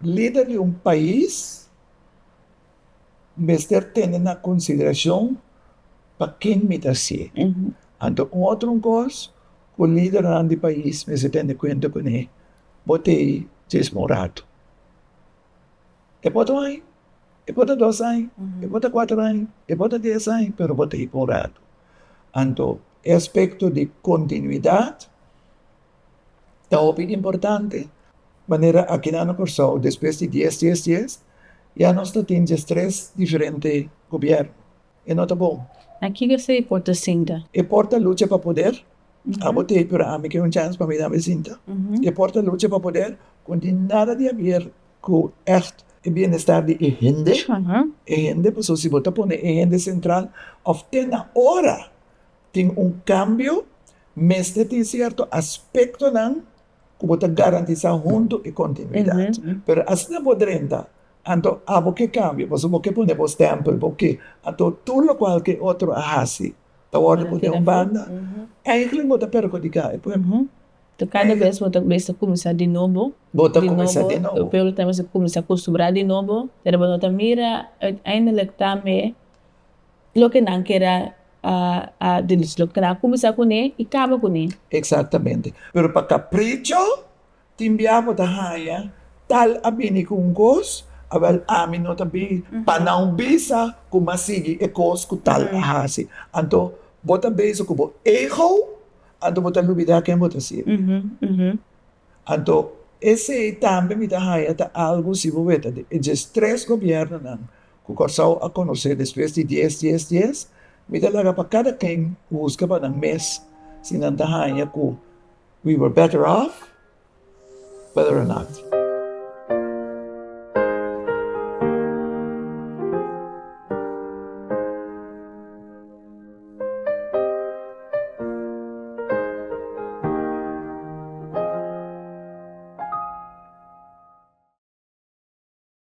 Lider di un pais mester tene na konsideracion pa kin mi ta si. Anto un otro cos cu lidernan di pais mester tene cuenta cu ne bo ta e djis un rato, e por ta un aña, e por ta dos aña, e por ta cuatro aña, e por ta dies aña, pero bo ta e por un rato. Anto e aspecto di continuidad. ta hopi importante manera aki nan na Kòrsou despues di dies dies dies ya nos ta tin dies tres diferente gobièrnu e no ta bon. Na ki kase e por ta sinta? E por ta lucha pa poder, abo t'ei pero ami ke un chèns pa mi dame sinta. E por ta lucha pa poder ku tin nada di haber ku ègt e bienestar di e hende, e hende pasobra si bo ta pone e hende sentral òf te na ora. Tin un kambio, mester tin sierto aspektonan ku bo ta garantisá huntu e kontinuidat. Pero asta bo drenta, anto abo ke kambia, pasobra bo ke pone bo stèmpel, bo ke, anto tur lokual ke otro a hasi ta wòrdu pone un banda. Eigelik bo ta perhudiká e pueblo. Anto kada bes bo ta mester kuminsá di nobo, bo ta kuminsá di nobo, e pueblo ta mester kuminsá akustumbrá di nobo, pero bo no ta mira uiteindelik tambe loke nan ker a loke nan a kuminsá kuné i kaba kuné. Eksatamente, pero pa kapricho tin bia bo ta haña tal a bini ku un kos, awèl ami no ta bin pa nan bisa ku m'a sigui e kos ku tal a hasi, anto bo ta bezig ku bo ego, anto bo ta lubidá ken bo ta ser, anto esei tambe mi ta haña ta algu si bo weta e djes tres gobièrnunan Ku Kòrsou a konosé despues di dies dies dies, mi ta laga pa kada ken husga pa nan mes si nan ta haña ku we were better off whether or not.